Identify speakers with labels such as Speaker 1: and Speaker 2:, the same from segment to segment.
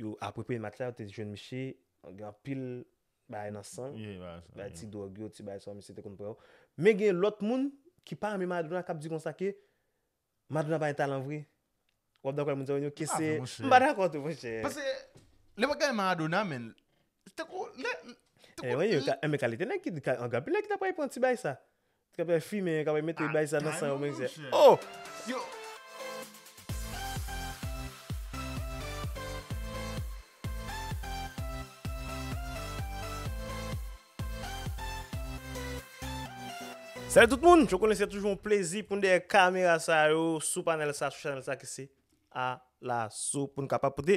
Speaker 1: Yo apre premye match la yo te jwenn misye gen anpil bagay nan san, bay ti dròg yo, ti bagay sa misye te konn pran yo. Men gen lòt moun ki pa renmen Maradona kap di konsa ke Maradona pa gen talan vre. Wap dakò avèk moun sa yo Nino? Ke se M pa dakò tou monchè. Pase lè
Speaker 2: wap gade Maradona men tankou lè Tankou
Speaker 1: lè Anben kalite nèg ki anpil nèg ki ta pral pran ti bagay sa. Kapè fime yo kapè mete bay sa nan san yo men mizè oh. Salut tout moun, yo konnen se toujou yon plezi pou nou dèyè kamera sa yo sou panel sa sou chanel sa ki se Alaso pou nou kapab pote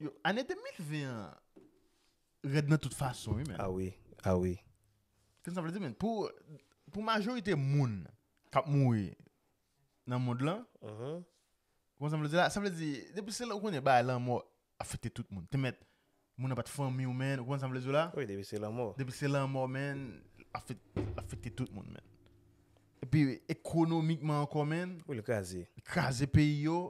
Speaker 1: Yo,
Speaker 2: ane 2020 an rèd nan tout fason wi men. A wi, a wi.
Speaker 1: Kèm
Speaker 2: sa vle di men, pou pou majorite moun kap mouri nan mond lan, mm-hmm. kòman sa vle di la, sa vle di, depi se lè ou konnen ba lanmò afekte tout moun, te mèt moun nan pat fanmi ou men, kòman sa vle di la? Wi, depi se lanmò. Depi se
Speaker 1: lanmò men,
Speaker 2: afekte tout moun men. Epi ekonomikman ankò men. Wi, li kraze. Li
Speaker 1: kraze peyi yo.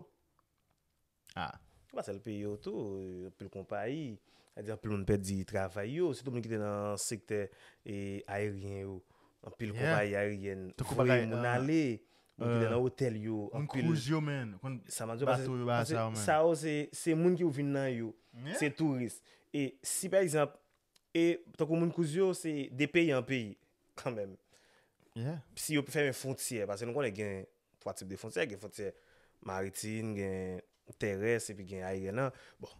Speaker 2: a. Se pa sèl peyi
Speaker 1: yo tou, anpil konpayi, sa vle di anpil moun pèdi travay yo, sitou moun ki te nan sektè ayeryen yo, anpil konpayi ayeryèn voye moun ale, moun ki te nan otèl yo, anpil,
Speaker 2: pase
Speaker 1: sa yo se moun ki pou vin nan yo, se touris, e si pa egzanp, e tankou moun kouz yo se de peyi an peyi kanmèm, si yo fèmen fwontyè, pase nou konnen gen 3 tip de fontyè, gen fontyè maritim, gen terès epi gen ayeryen an. Bon,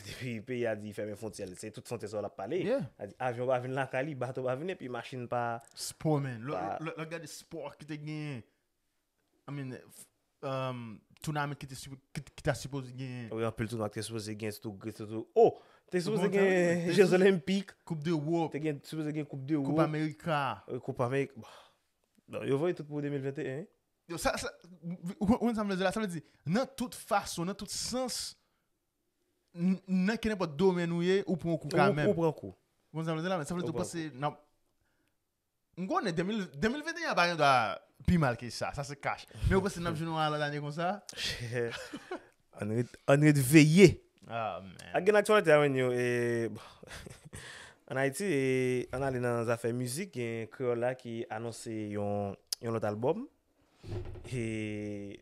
Speaker 1: depi peyi a di li fèmen fontyè l, se tout fontyè sa yo l ap pale. Sa di avyon pa vin lakay li, bato pa vin epi machin pa. Spò men, lè
Speaker 2: w ap gade spò ki te genyen, I mean, tounament ki ta sipoze genyen. Wi anpil tounwa ki te sipoze
Speaker 1: genyen, sitou Gris, sitou, oh! Te sipoze genyen Jeux Olympiques. Koup de Wop. Te
Speaker 2: sipoze genyen Koup
Speaker 1: de Wop. Koup Amerika.
Speaker 2: Koup Amerika.
Speaker 1: Non, yo voye tout pou 2021 wi. Yo sa, sa,
Speaker 2: ou konprann sa m vle di la, sa vle di nan tout fason, nan tout sans, nan kenenpòt domèn ou ye, ou pran kou kanmèm. Ou pran kou. Ou konprann
Speaker 1: sa m
Speaker 2: vle
Speaker 1: di la men, sa vle di
Speaker 2: ou panse nan, m konnen 2021 an pa gendwa pi mal ke sa, sa se kach, men ou panse n ap jwenn yon lòt ane konsa?
Speaker 1: Ann ret veye! Ak
Speaker 2: gen aktyalite a menn yo
Speaker 1: e ann Ayiti e ann ale nan zafè mizik gen Kreyòl la ki anonse yon lòt albòm e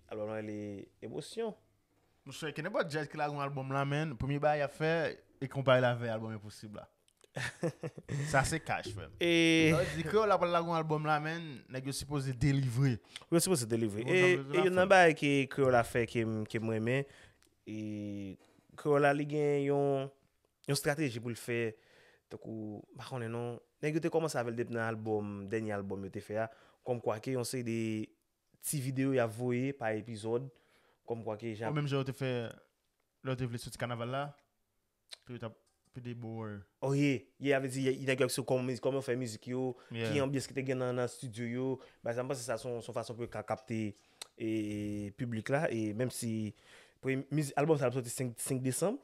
Speaker 1: albòm lan rele Emosyon. Monchè,
Speaker 2: kenèpòt djaz ki lage yon albòm la menn, premye bagay y ap fè e konpare l avè albòm Enposib la. Sa se cash frem. E. Sa vle di Kreyol la pral lage yon album la men nèg yo sipoze delivre. Yo sipoze delivre.
Speaker 1: Bon jan Kreyol la fè. E youn nan bagay ke Kreyol la fè ke m renmen e Kreyol la li gen yon strateji pou l fè tankou m pa konnen non nèg yo te kòmanse avè l depi nan album dènye album yo te fè a kòm kwa ke yon seri de ti video y ap voye pa epizòd kòm kwa ke jan. Menm jan yo te fè
Speaker 2: lè yo te vle soti kanaval la. Ke yo tap pede bo or. Oh ye, ye a
Speaker 1: vle di nèg yo ap sou kòman yo fè mizik yo, ki anbyans ki te gen nan studio yo, bagay sa m panse sa son fason pou yo ka kapte piblik la e menm si album sa ap soti 5 desanm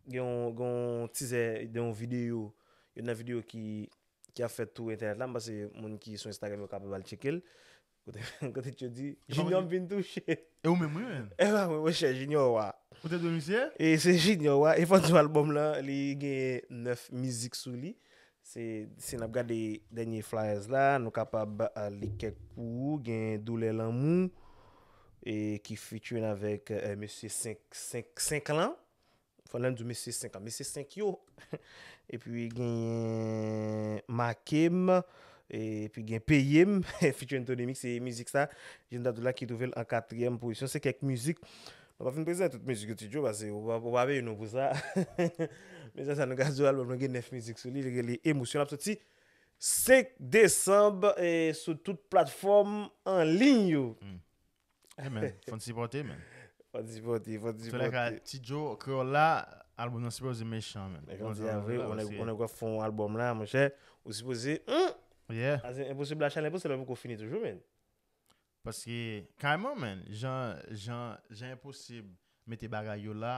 Speaker 1: gen yon tizè de yon videyo, youn nan videyo ki ap fèt tou entènèt la, m panse moun ki sou Instagram yo kapab al tcheke l, Kote tchou di, Junior m vin touche. E ou menm wi
Speaker 2: men. E pa mwen mwen chè
Speaker 1: Junior wa. Ou te dwe misye?
Speaker 2: E se Junior wa.
Speaker 1: E fò di w albòm lan li gen 9 mizik sou li. Se si n ap gade dènye flyers la nou kapab li kèk pou ou. Gen Doulè Lanmou e ki featuring avèk mesye 5 lan. Fernand di mesye 5 an. Mesye 5 yo. Epi genyen Make m. Epi gen Peye m. Featuring Tony Mix se mizik sa. Jèn Dadou la ki twouve l an katriyèm pozisyon. Se kèk mizik. Nou pa fin prezante tout mizik yo Ti Djo pase ou pa peye nou pou sa. Men sa sa nou ka di w albòm lan gen 9 mizik sou li. Li rele Emosyon. L ap soti 5 desanm sou tout platfòm anliy yo.
Speaker 2: Hey man, fò n sipòte
Speaker 1: man.
Speaker 2: Fò n sipòte, fò n sipòte. Tolè ka, Ti
Speaker 1: Joe,
Speaker 2: Kreyòl la, albòm nan sipoze mechan man. Mwen di a vre,
Speaker 1: ou nèk wap fon albòm la, mwen chè, ou sipoze, humm! Yeah. Aze,
Speaker 2: enposib la chèn
Speaker 1: enposib la poko fini toujou man. Paske,
Speaker 2: kayman man, jan, jan, jan enposib mete bagay yo la,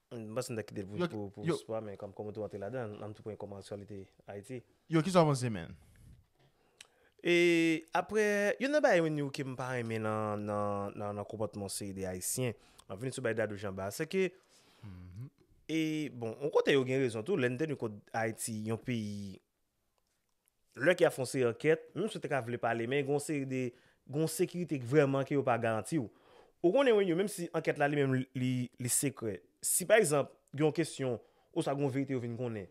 Speaker 1: M panse m ta kite l pou pou pou spò men kòm ou tou antre ladan an m tou pran kòm aktyalite Ayiti. Yo kisa w panse
Speaker 2: menn? E
Speaker 1: aprè youn nan bagay menm ke m pa renmen nan nan nan nan konpòtman yon seri de ayisyen m ap vini sou bagay Dadou Janba a se ke e bon yon kote yo gen rezon tou lè n te nou kont Ayiti yon peyi lè ke y ap fè yon seri ankèt, menm si yo te ka vle pale, men gen yon seri de, gen yon sekirite k vrèman ke yo pa garanti w. Ou konnen wi, menm si ankèt la li menm li, li sekrè, si pa egzanp, gen yon kesyon, oswa gen yon verite yo vin konnen,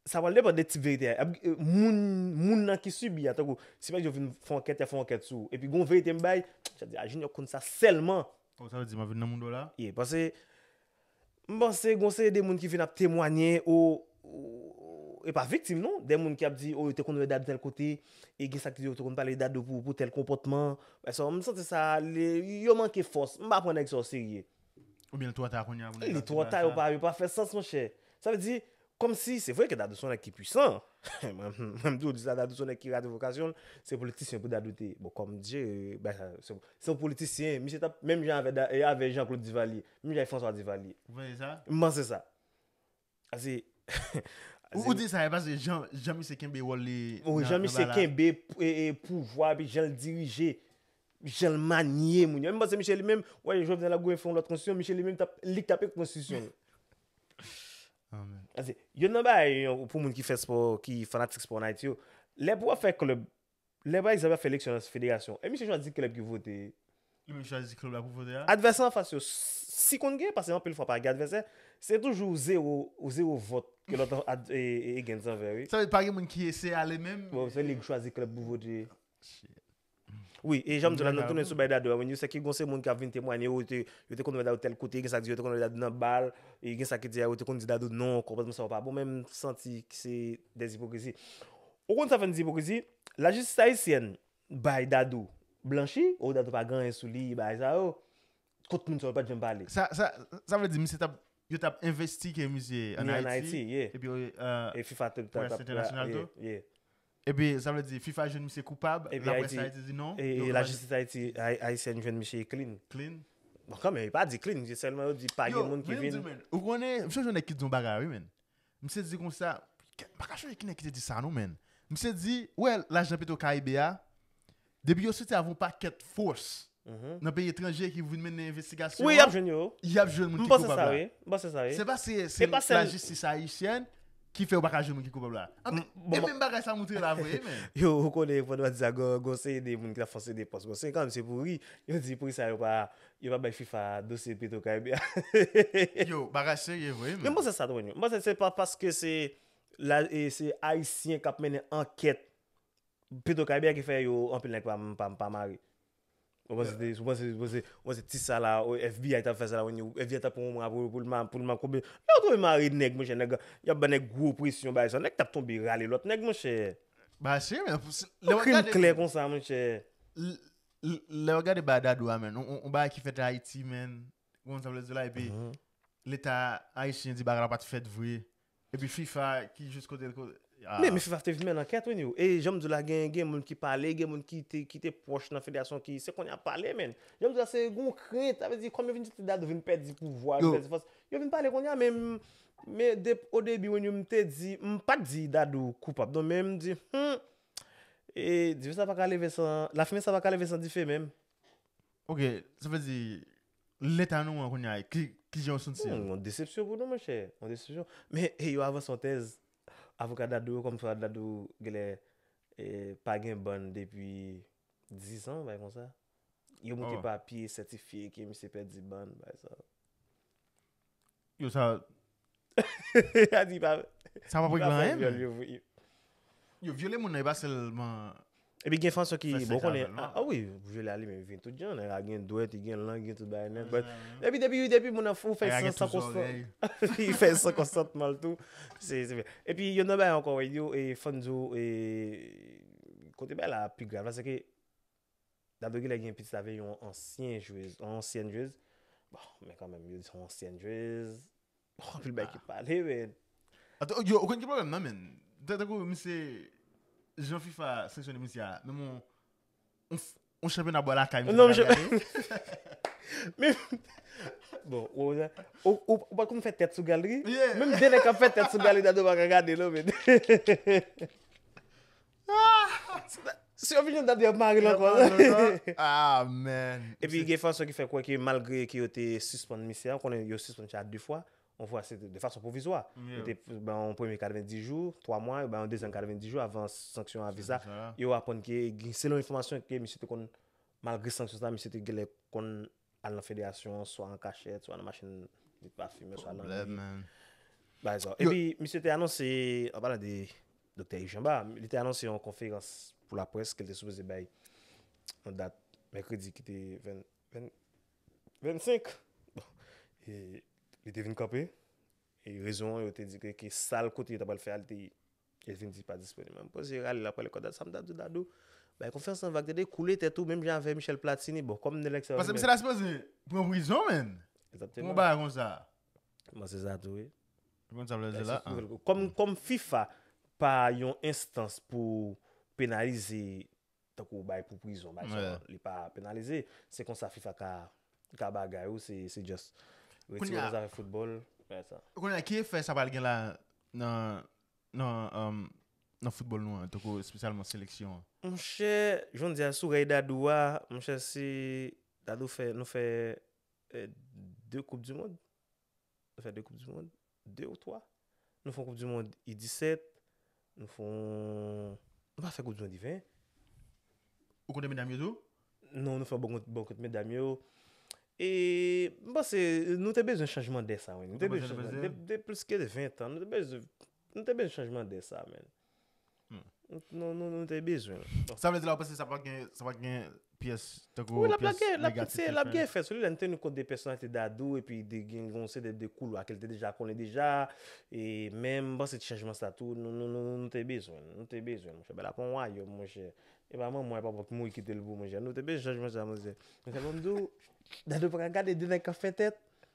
Speaker 1: sa pral depann de tip verite a, moun, moun nan ki sibi a, tankou, si pa egzanp yo vin fè yon ankèt, y ap fè yon ankèt sou ou, epi gen yon verite m bay, sa vle di, a Jinyò konn sa sèlman. Sa w di, m ap vin nan
Speaker 2: moun w la? Ye, pase,
Speaker 1: M panse gon seri de moun ki vin ap temwanye o e pa viktim non, de moun ki ap di o yo te konn wè Dado tèl kote, e gen sa ki di yo te konn pale Dado pou tèl konpòtman, m santi sa yo manke fòs, m pa pran nèg sa o serye. Oubyen li twò ta
Speaker 2: kounya pou nèg yo ap di bagay sa? Li twò ta yo
Speaker 1: pa fè sans monchè. Sa vle di Komsi se vre ke dadou son nèg ki pwisan mwen mtou disa dadou son nèg ki rate vokasyonl se politisyen pou dadou te bon kòm dye bay sa se yon politisyen misye tap menm jan avè jan klod divalye menm jan avè franswa divalye ou panse sa m panse
Speaker 2: sa
Speaker 1: pase
Speaker 2: ou di sa e pase jan misye kenbe wòl li nan jan misye kenbe
Speaker 1: pouvwa epi janl dirije janl manye moun yo menm panse misye li menm wè jovnèl ap goumen fè yon lòt konstitisyon misye li menm tap lik tap ekri konstitisyon Amen. Ase, yon nan bagay yon pou moun ki fè spò, ki fanatik spò an Ayiti yo, lè pou wap fè klèb, lè pa egzanp wap fè eleksyon nan federasyon, e misye chwazi klèb ki vote. Li menm chwazi
Speaker 2: klèb la pou vote a. Advèsè an fas yo,
Speaker 1: si konn gen, pase anpil fwa pa gen advèsè, se toujou zewo, zewo vòt ke lòt ad, e, e, against anvè wi. Sa vle di pa gen moun ki eseye
Speaker 2: ale menm? Bon, se li ki chwazi klèb
Speaker 1: pou vote. Shit. Wi, e janm di la nou tounen sou bay Dadou a, wi, nou se ki gon se moun kap vin temwanye yo te yo te konn wè Dadou tèl kote, gen sa ki di yo te konn wè Dadou nan bal, e gen sa ki di a yo te konn di Dadou non, konpòtman sa yo pa bon, men m santi ki se dè ipokrizi. Ou konn sa fè n di ipokrizi? Lajistis ayisyèn bay Dadou blanchi, o Dadou pa gen anyen sou li, bagay sa yo, kot moun sa yo pat janm pale? Sa sa sa vle
Speaker 2: di misye tap yo tap envestige misye an Ayiti,
Speaker 1: epi
Speaker 2: près
Speaker 1: entènasyonal tou?
Speaker 2: Epi sa vle di fifa jwenn misye koupab, laprès Ayiti di non.
Speaker 1: E
Speaker 2: lajistis Ayiti
Speaker 1: ayisyèn jwenn misye clean. Clean? Bon kanmenm yo pa di clean, yo sèlman yo di pa gen moun ki vin. Yo, men yo di men, ou konnen, m sonje
Speaker 2: yon nèg ki t di yon bagay wi men. Misye di konsa, m paka chonje ki nèg ki te di sa non men. Misye di, ou wè lajan petro caribe a, Depi yo soti avè yon pakèt fos nan peyi etranje ki pou vin mennen envestigasyon an, yap jwenn moun ki
Speaker 1: koupab la.
Speaker 2: M panse sa wi.
Speaker 1: Se pa se
Speaker 2: lajistis ayisyèn ki fè yo paka jwenn moun ki koupab la. E menm bagay sa moutre la vre menm. Yo ou konnen fò nou pa
Speaker 1: di sa gon yon seri de moun ki tap fose de pos. Gon seri kanmenm se pou ri. Yo di poukisa yo pa yo pa bay fifa dosye petro karibe a. Yo
Speaker 2: bagay serye vre menm. Men m panse sa tou anyway. M panse
Speaker 1: se pa paske se ayisyen kap mennen ankèt Petro karibe a ki fè yo anpil nèg pa mare. Ou panse ti sa la FBI tap fè sa la FBI tap pran yon mwa poul mare konbyen lè yo twouve mare nèg monchè nèg yap ba nèg gwo presyon bay sa nèg tap tonbe rale lòt nèg monchè
Speaker 2: yon krim klè
Speaker 1: konsa monchè
Speaker 2: lè wap gade bagay dadou a menn yon bagay ki fèt ayiti menn ou konn sa m vle di w la epi leta ayisyen di bagay la pat fèt vre Epi fifa ki jis kotel ko aah. Men fifa te
Speaker 1: vin men nan kèt wi ni e janm diw la gen gen moun ki pale gen moun ki te ki te pwòch nan federasyon ki se konnya yap pale men janm diw la se gon krent sa vle di kòm yo vin santi dadou vin pèdi pouvwa vin pèdi fòs yo vin pale konnya men men dep o debi wen yo m te di m pat di dadou koupab non men m di humm e dife sa paka leve san lafimen sa paka leve san dife men. Ok
Speaker 2: sa vle di Leta nou an kounya ki jan ou santi l? Yon desepsyon pou nou
Speaker 1: monchè, yon desepsyon. Men yo avanse yon tèz, avoka Dadou yo kòm fwa Dadou genlè pa gen bann depi 10 an, bagay konsa. Yo montre papye sètifye ke misye pèdi bann, bagay sa. Yo sa. Ya di pa. Sa pa preglan en. Yo
Speaker 2: vyole moun nan e pa selman. E pi gen fason
Speaker 1: ki bon konnen. A wi, vyole a
Speaker 2: li
Speaker 1: men vin tout jan. Nèg la gen dwèt, li gen lang, li gen tout bagay nèt. But, e pi depi, depi moun
Speaker 2: nan
Speaker 1: fou fè san san konstan.
Speaker 2: Li
Speaker 1: fè
Speaker 2: san
Speaker 1: konsantman l tou. Se, se. E pi yon nan bagay ankò, yo e fò n di w e kote bagay la pi grav la se ke. Dado kilè gen pitit avè yon ansyen jwez, yon ansyèn jwez, bon men kanmenm yo di son ansyèn jwez, bon anpil bagay ki pale men. Ato yo ou
Speaker 2: konn ki pwoblèm nan men, tankou misye jan fifa sanksyone misye a, menm yon yon chanpyona bò lakay misye pa ka gade.
Speaker 1: Men bon ou wè ou pa konn fè tèt sou galeri, menm 2 nèg kap fè
Speaker 2: tèt sou
Speaker 1: galeri Dado pa ka gade non men. Si yo vin jwenn dat yap marel ankò. Ah
Speaker 2: man. Epi gen fason ki
Speaker 1: fè kwè ke malgre ke yo te sispann misye a, konnen yo sispann misye a 2 fwa, yon fwa se te de fason pwovizwa. Yo te bay yon
Speaker 2: premye
Speaker 1: 90 jou, 3 mwa, yo bay yon dezyèm 90 jou avan sanksyon a viza. Yo aprann ke selon enfòmasyon ke misye te konn malgre sanksyon sa misye te genlè konn Al nan federasyon an swa an kachèt, swa nan machin li pa fimen, swa nan li.
Speaker 2: Bagay sa yo.
Speaker 1: Epi, misye te anonse, an palan de Doktè Iv Janba, li te anonse yon konferans pou laprès ke l te sipoze bay yon dat mèkredi ki te 25. Bon, e li te vin kanpe. E rezon an, yo te di ke sal kote yo ta pral fè a, li te Elvin di pa disponib menm poze rale la pwale kò dat sam ta diw dadou bay konfyans nan vag tande koule tèt ou menm jan avè Michel platini bon kòm nèl eksè Paske misye ta sipoze
Speaker 2: pran prizon menn pou yon bagay
Speaker 1: konsa
Speaker 2: m panse sa
Speaker 1: tou wi ou konn sa vle di
Speaker 2: la a kòm fifa
Speaker 1: pa yon enstans pou penalize tankou ou bay pou prizon bay sa li pa penalize se konsa fifa ka ka bagay ou se se just retire nan zafè football bay sa. Kounye a ki efè sa pral
Speaker 2: gen la nan nan nan football nou an tankou espesyalman seleksyon an. Monchè
Speaker 1: jonndy a sou rèy dadou a monchè si dadou fè nou fè 2 koup du mond nou fè 2 koup du mond 2 ou 3 nou fon koup du mond i 17 nou fon nou pa fè koup du mond i 20
Speaker 2: ou konnen medam yo tou non nou fè bon
Speaker 1: bon kont medam yo e m panse nou te bezwen chanjman dè sa wi nou te bezwen de plus ke 20 tan nou te bezwen nou te bezwen chanjman dè sa menn. Nou te bezwen l. Sa vle di la ou panse sa
Speaker 2: pa gen sa pa gen pyès tankou pyès negatif ki fè. Wi,
Speaker 1: l ap gen, se l ap gen efè sou li lè n teni kont de pèsonalite Dadou epi de gen yon seri de koulwa ke l te deja konnen deja e men m panse ti chanjman sa tou nou te bezwen l, nou te bezwen l monchè. Bèl ap on wayòm monchè. E pa manman e pa papa ki mouri kite l pou monchè. Nou te bezwen chanjman sa monchè. Monchè banm di w Dadou pa ka gade de nèg k ap fè tèt.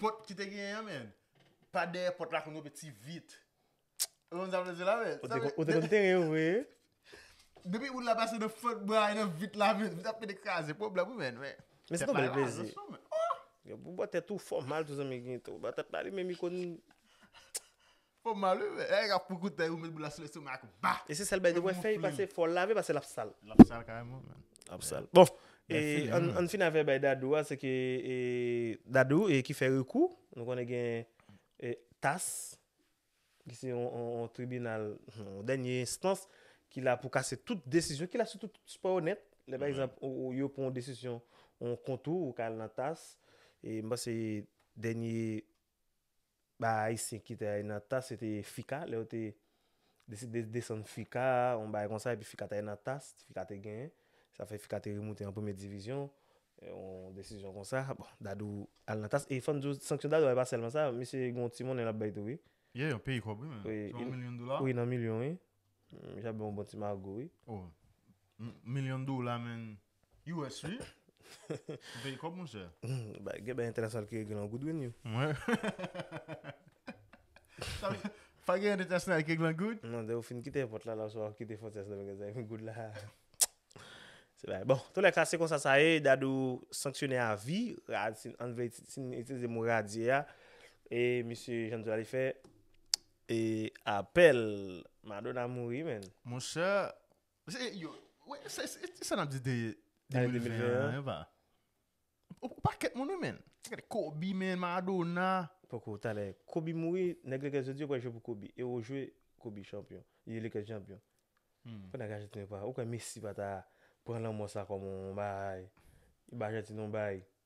Speaker 2: Pòt ki te genyen an men. Pa dèyè pòt la konn yo pe ti vit. Ou konn sa m vle di la men. Ou te konn tere yo vre.
Speaker 1: Depi
Speaker 2: moun la pase nan fant bwa e nan vit la men. Vit ap pete kraze. Pwoblèm ou men. Men se ton bèl plezi.
Speaker 1: Ou bò tèt ou fò mal tou zanmi Ginto. Ou bò tèt la li menm li konn.
Speaker 2: Fòm mal wi men erik ap koukoutay ou met boul la sou lestomak ak ba. E se sèl bagay li wè fèy
Speaker 1: pase fòl lave pase lap sal. Lap sal kareman
Speaker 2: man. Lap sal bon
Speaker 1: e ann fin avè bay dadou a se ke e dadou e ki fè rekou nou konnen gen e tas ki se yon tribinal yon dènye enstans ki la pou kase tout desizyon ki la sou tout spò nèt lè pa egzanp ou yo pran yon desizyon yon kont ou ou ka al nan tas e m panse dènye. Ba ayisyen ki te ale nan tas yo te ye fika lè yo te deside desann fika yon bagay konsa epi fika te ale nan tas fika te genyen sa fè fika te remoute an premye divizyon yon desizyon konsa bon dadou ale nan tas e fòm di w sanksyon dadou a e pa sèlman sa misye gen yon ti monnen lap bay tou wi. Yeah yon peyi kòb wi
Speaker 2: menm se yon milyon dola. Wi nan milyon wi
Speaker 1: misye ap bay yon bon ti mago wi. Oh
Speaker 2: milyon dola menn. US wi Ou peye kòb monchè. Bay gen bay entènasyonal
Speaker 1: ki regle an goud wi Niu.
Speaker 2: Pa gen entènasyonal ki regle an goud? Non depi ou fin kite èpòt la
Speaker 1: la oswa ou kite fwontyè sendomeng sa epi goud la se bagay bon toulèka se konsa sa ye Dadou sanksyone a vi ann vle si n itilize mo radye a e misye jan n di w la li fè e apèl Madonna mouri menn. Monchè.
Speaker 2: Ki sa nap di de 2021 an. Ou pakèt moun wi menn. Gade Kobe menn, Maradona. Poko talè.
Speaker 1: Kobe mouri, nèg Lakers yo di yo pral jwe pou Kobe. E yo jwe Kobe chanpyon. E Lakers chanpyon. Pou nèg Ajantin yo pa. Ou kwè Messi pa ta pran lanmò sa kòm yon bagay. Yon bagay Ajantin yon bagay.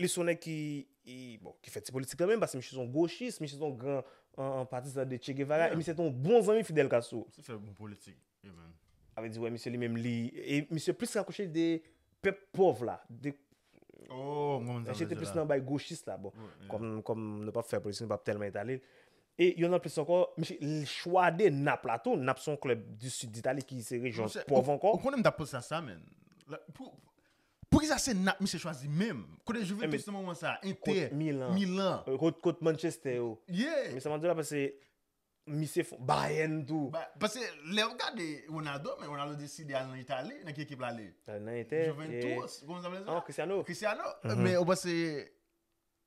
Speaker 2: Li son nèg ki
Speaker 1: bon ki fè ti politik kanmenm paske misye son gochis, misye son gran patizan de Che Guevara e misye te yon bon zanmi Fidel Castro. Misye fè bon politik
Speaker 2: e menn. Avè di wè misye li
Speaker 1: menm li e misye plis rapwoche li de pèp pòv la de Oh m konprann
Speaker 2: sa w vle di la. Misye te plis nan
Speaker 1: bay gochis la bon kòm nou
Speaker 2: pap fè politik
Speaker 1: nou pap tèlman etale l. E yon nan plis ankò misye li chwa de Nap la tou, Nap son klèb di sid Ditali ki se rejyon pòv ankò. Ou konnen m tap poze
Speaker 2: sa sa
Speaker 1: menn.
Speaker 2: Poukisa se nap misye chwazi menm? Kote Juventus nan moman sa? Inter, Milan. Kot Manchester
Speaker 1: yo? Yeah. Mesa map di la pase misye fon Bayern tou. Pase lew
Speaker 2: gade Ronaldo men Ronaldo deside al nan Italie, nan ki ekip lale? Lale nan Inter. Juventus,
Speaker 1: koman sa vle
Speaker 2: di la? Cristiano. Cristiano. Men ou
Speaker 1: pase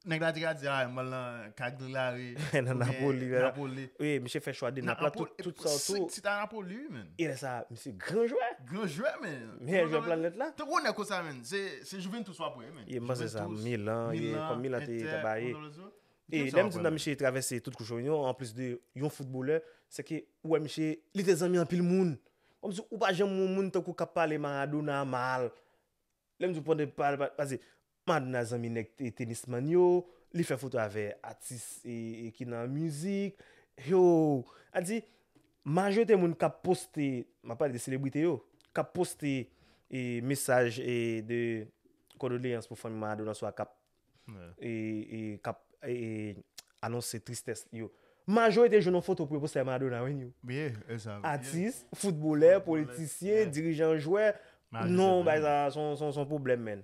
Speaker 2: Nèg la te ka di a mwen al nan Cagliari Nan Napoli,
Speaker 1: oubyen Napoli. wi, misye
Speaker 2: fè chwa 2
Speaker 1: Nap la tout, tout sa w tou. Si ta Napoli wi menn.
Speaker 2: E lè sa a, misye
Speaker 1: gran jwè. Gran jwè men.
Speaker 2: Meyè jwè planèt la.
Speaker 1: Tankou nèg konsa menn, se,
Speaker 2: se Juventus wap wè wi menn. Ye m panse sa, Milan,
Speaker 1: ye, kòm Milan te, te ba ye. Milan, Inter, konsa wap wè. E lè m di nan misye travèse
Speaker 2: tout
Speaker 1: kouch onyon, an plis de yon foutbolè, se ke ou wè misye, li te zanmi anpil moun. Kòmsi ou pa janm wè yon moun tankou kap pale Maradona mal. Lè m di w pwende pale, pase, Madonna zanmi nèg tenis man yo, li fè foto avè atis ki nan mizik, hoo, a di majorite moun kap poste, map pale de selebrite yo, kap poste mesaj de kondoleyans pou fanmi Madonna oswa kap anonse tristès yo, majorite jwenn yon foto pou yo poste avè Madonna wi ni,
Speaker 2: atis, foutbolè,
Speaker 1: politisyen, dirijan, jwè, non bagay sa son pwoblèm menn.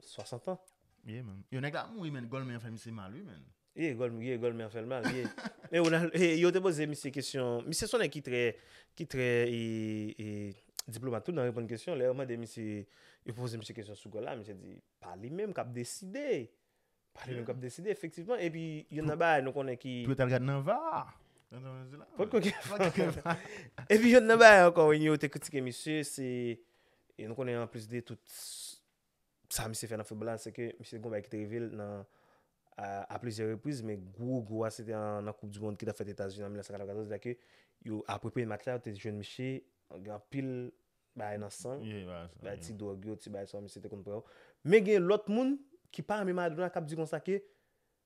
Speaker 1: 60 ans. Yeah man. Yo nèg la
Speaker 2: ap mouri man Golmer fè misye mal wi man. Yeah Golmer yeah Golmer
Speaker 1: fèl mal yeah. Men Ronald eh yo te poze misye kesyon misye son nèg ki trè ki trè eh diplomat tou nan reponn kesyon lè yo mande misye yo poze misye kesyon sou gòl la misye di pa li menm kap deside pa li menm kap deside efektivman epi youn nan bagay nou konnen ki Pou yo tal gad nan var.
Speaker 2: Potko gen
Speaker 1: var. Epi youn nan bagay ankò wen yo te kritike misye se nou konnen anplis de tout Sa misye fè nan foutbòl la, se ke misye gon bagay ki te rive l nan a plizyè repriz, men gwo gwo a se te nan koup di mond ki t ap fèt Etazini an 1994 la ke yo apre premye match la yo te jwenn misye gen anpil bagay nan san l, bagay ti dwòg yo, ti bagay sa yo misye te konn pran yo. Men gen lòt moun ki pa renmen Maradona k ap di konsa ke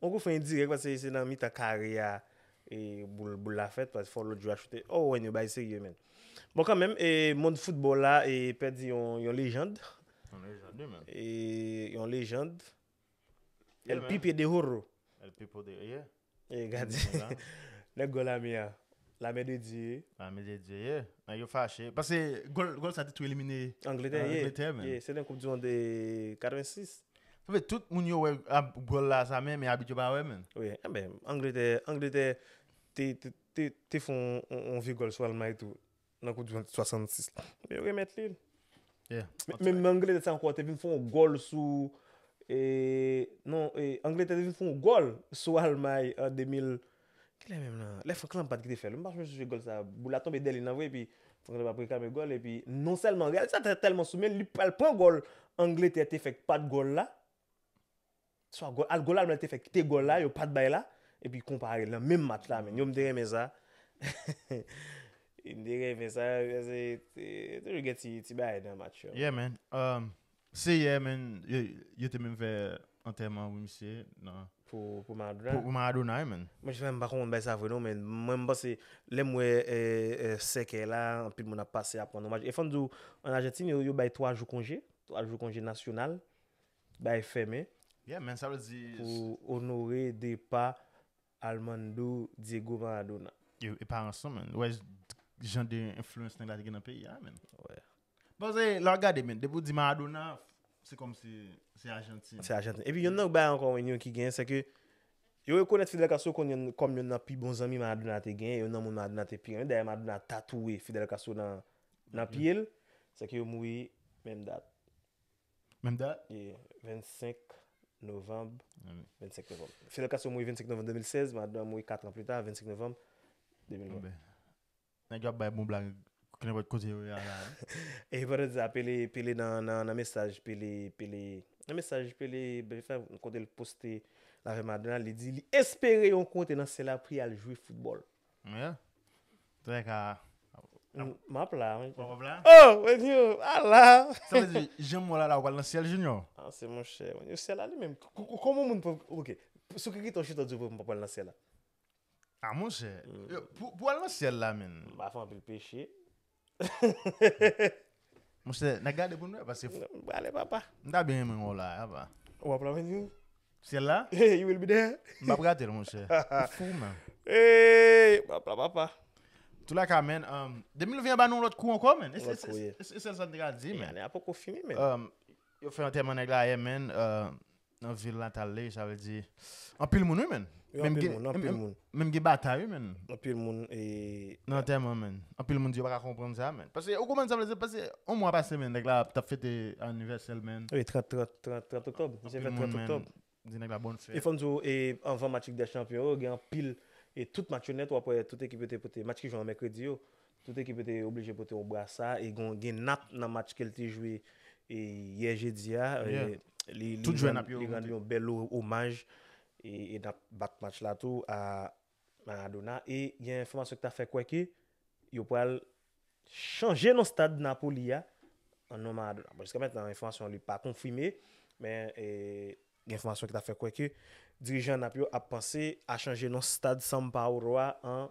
Speaker 1: On kout fren dirèk paske se nan mitan kare a boul la fèt paske fò lòt jwè a choute. Oh wen yo bay serye menn. Bon kanmenm mond foutbòl la pèdi yon lejand. Yon lejand wi menn. Yon lejand. El pipe de oro. El
Speaker 2: pipo
Speaker 1: de ye.
Speaker 2: E
Speaker 1: gadyen. Nèg gòl lame
Speaker 2: a.
Speaker 1: Lame de Dye ye. Lame de Dye ye.
Speaker 2: Nèg yo fache. Pase gòl sa te tou elimine. Angletè ye. Angletè
Speaker 1: menn. Se nan
Speaker 2: koup di mond
Speaker 1: 86. Sa vle tout moun
Speaker 2: yo wè ab gòl la sa men men abit yo pa wè menm. Wi, enben Angletè,
Speaker 1: Angletè te te te fè yon vye gòl sou Almay tou nan koup di mond 66 la. Men yo remèt li. Yeah.
Speaker 2: Menm nan Angletè
Speaker 1: sa ankò te vin fè yon gòl sou e non e Angletè te vin fè yon gòl sou Almay an 2000 Kilè menm lan? Lè Franck Lampard ki te fèl wi m pa janm sonje gòl sa boul la tonbe dèyè li nan vre epi Franck Lampard ap reklame gòl epi non sèlman reyalizatè a tèlman sou menl li pral pran gòl Angletè te fè k pat gòl la swa gòl al gòl Almay te fè kite gòl la yo pat bay la epi konpare nan menm match la menm yo m te renmen sa m te renmen sa paske toujou gen ti bagay nan match yo. Yeah man,
Speaker 2: Seyè men yo te menm fè antèman pou misye nan
Speaker 1: Pou Maradona wi men.
Speaker 2: Mwen jis la m pa konprann bagay sa
Speaker 1: vre non men mwen m panse lè m wè sèkèy la anpil moun ap pase ap rann omaj e fò m di w an Ajantin yo bay 3 jou konje 3 jou konje nasyonal bagay fèmen
Speaker 2: pou onore
Speaker 1: depa Almando Diego Maradona. E pa ansan
Speaker 2: menn. Wè jan de influence nèg la te gen nan peyi a menn. Wè. Paske
Speaker 1: lè
Speaker 2: wap gade menn depi ou di Maradona se kòm si se Argentine. Se Argentine. Epi yon lòt
Speaker 1: bagay ankò yon ki gen se ke yo rekonèt Fidel Castro kon yon kòm yon nan pi bon zanmi Maradona te gen, yon nan moun Maradona te pi renmen. Dayè Maradona tatouwe Fidel Castro nan nan pye l. Se ke yo mouri menm dat. Menm
Speaker 2: dat? Wi, 25
Speaker 1: novanm, 25
Speaker 2: novanm. Fidel
Speaker 1: Castro mouri 25 novanm 2016, Maradona mouri 4 an plita, 25 novanm 2020.
Speaker 2: Nèg yo ap bay bon blag knenpòt kote yo ye a la. E pandan
Speaker 1: sa, Pele, Pele nan mesaj Pele, Pele, nan mesaj Pele fè kote l poste l avè Maradona, li di li espere yon kote nan syèl la pou y al jwe foutbòl. Yeah.
Speaker 2: Trè ka. M ap
Speaker 1: la wi. Ou ap la? Oh!
Speaker 2: Mwen di yo, a
Speaker 1: la! Sa vle di, jan
Speaker 2: mwen wè w la la, ou pral nan syèl Junior? Ah se monchè, mwen
Speaker 1: di yo syèl la li menm, kòman moun pou, ok, sou ki kritè w chita w di yo m pa pral nan syèl la? Ah
Speaker 2: monchè, pou al nan syèl la menn. M pa fè anpil peche. Monchè, na gade pou n wè paske fò. Mwen prale papa. M
Speaker 1: ta byen renmen wè w la a
Speaker 2: papa. Ou ap la mwen di?
Speaker 1: Syèl la?
Speaker 2: You will be there?
Speaker 1: M pap rate l monchè.
Speaker 2: Ou fou menm. Eeyy!
Speaker 1: Mwen ap la papa. Tou la ka
Speaker 2: menn, 2020 an ba nou yon lòt kou ankò menn. Yon lòt kou ye. E se sèl sa
Speaker 1: n te ka di menn.
Speaker 2: Ane a poko fini menn.
Speaker 1: Yo fè antèman
Speaker 2: nèg la ayè menn. Nan vil natal li sa vle di anpil moun wi menn. Yo anpil moun, anpil
Speaker 1: moun. Menm gen batay wi menn.
Speaker 2: Anpil moun e.
Speaker 1: Nan antèman menn.
Speaker 2: Anpil moun di yo pa ka konprann sa menn. Pase ou konprann sa vle di pase yon mwa pase menn nèg la ap tap fete anivèsèl menn. Wi 30, 30, 30, 30
Speaker 1: oktòb. Misye fèt 30 oktòb. Di nèg la bòn
Speaker 2: fèt. E fòm di w e anvan
Speaker 1: match lig dè chanpyon yo gen anpil e tout match yo nèt wap wè tout ekip yo te pote match ki jwe an mèkredi yo. Tout ekip yo te oblije pote yon brasa e gen nap nan match ke l te jwe yè jedi a. Li
Speaker 2: rann yon bèl
Speaker 1: omaj e nap bat match la tou a Maradona. E gen enfòmasyon ki ta fè kwè ke yo pral chanje non stad Napoli a an non Maradona. Bon jiska mètnan enfòmasyon li pa konfime men gen enfòmasyon ki ta fè kwè ke dirijan nap yo ap panse a chanje non stad Sampaoro a an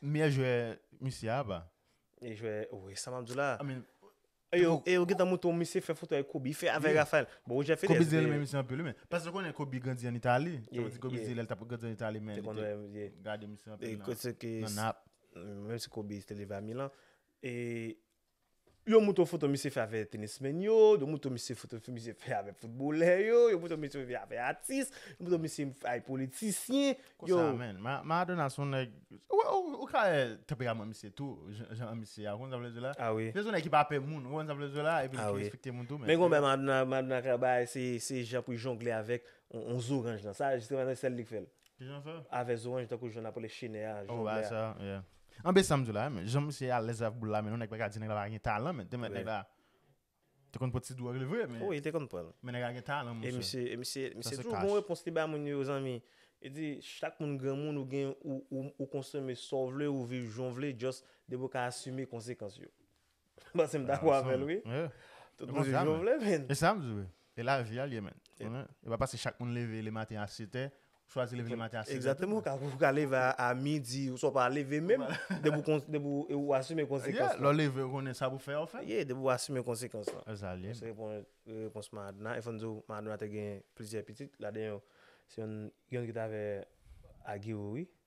Speaker 2: Meyè jwè misye a ba. Meyè jwè
Speaker 1: wi sa map diw la. I mean.
Speaker 2: E yo
Speaker 1: gentan montre w misye fè foto ak Kobe, fè avèk Raphael. Bon Roger Federer. Kobe di li renmen misye anpil wi men.
Speaker 2: Paske ou konnen Kobe grandi an Itali. Sa vle di Kobe di lèl tap grandi an Itali men li te gade misye anpil nan Nap.
Speaker 1: Menm si Kobe te leve a Milan. E Yo moutre w foto misye fè avè tenismen yo, yo moutre w misye foto misye fè avè foutbolè yo, yo moutre w misye fè avè atis, yo moutre w misye avè politisyen. Konsa menn,
Speaker 2: Maradona son nèg, ou ka wè tanperaman misye tou, jan misye a, ou konn sa m vle di w la? A wi. Misye son nèg ki pa pè
Speaker 1: moun, ou
Speaker 2: konn sa m vle di w la? A wi. Epi li te respekte moun tou menn. Men gen yon bagay Maradona,
Speaker 1: Maradona ka bay, se jan pou l jongle avèk yon zoranj nan, sa jisteman se sèl li k fè l. Avè
Speaker 2: zoranj tankou jan nap
Speaker 1: rele chine a jan w lè a.
Speaker 2: Anben sam diw la a men jan misye alèz avk boul la men yon nèg pa ka di nèg la pa gen talan men te mèt nèg la te konn pot ti dwòg li vre men wi te konn pranl men nèg la
Speaker 1: gen talan
Speaker 2: mon chè e misye e misye toujou
Speaker 1: gon repons li bay moun yo zanmi li di chak moun granmoun ou gen ou konsome sa w vle ou viv jan w vle just depi w ka asime konsekans yo. Bon se m dakò avè l wi. Tout moun se jan w vle menn. E sa m di wi. E
Speaker 2: lavi a l ye menn. E pa pase chak moun leve le maten a setè. Ou chwazi leve le maten a setè. Egzakteman. Ou ka leve
Speaker 1: a midi. Ou sa w pa leve menm. Depi ou asime konsekans lan. Lè w leve ou konnen sa
Speaker 2: pou w fè a ou fè. Ye depi ou asime konsekans
Speaker 1: lan. E sa l ye. Mwen se repon repons Madna. E fò n di w Madna te gen plizyè pitit. Ladan yo se yon ki t avè Agiwo wi.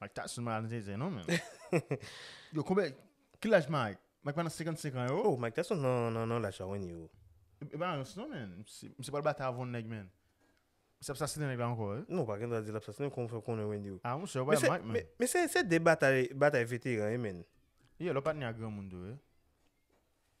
Speaker 1: Mike Tyson
Speaker 2: malade zen non men. Yo konbe ki laj Mike? Mike pa nan 55 an yo. Oh Mike Tyson nan nan
Speaker 1: laj sa wen yo. E pa nan rans non
Speaker 2: men. Misye pral batay avon nèg men. Misye ap sasinen nèg la anko wi. Non pa gen dwa di lap sasinen
Speaker 1: kòman fè konnen wen yo. Ah monchè ou bay Mike men.
Speaker 2: Men se se de batay
Speaker 1: batay veteran wi men. Yo lap patne ak
Speaker 2: granmoun tou wi.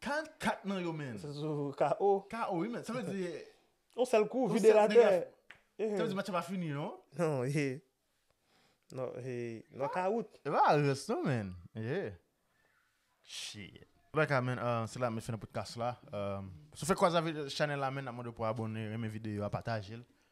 Speaker 2: 44 nan yo men. Se sou KO.
Speaker 1: KO wi men. Sa vle di.
Speaker 2: Yon sèl kou
Speaker 1: vide l atè. Sa vle di match la
Speaker 2: pa fini non. Non e.
Speaker 1: Non e. Nan kawout. E pa rès non
Speaker 2: men. E. Shit. Bon bgay men se la mwen fè nan podcast la. Si w fèk kwaze avèk chanèl la men n ap mande w pou abòne, renmen videyo a, pataje l.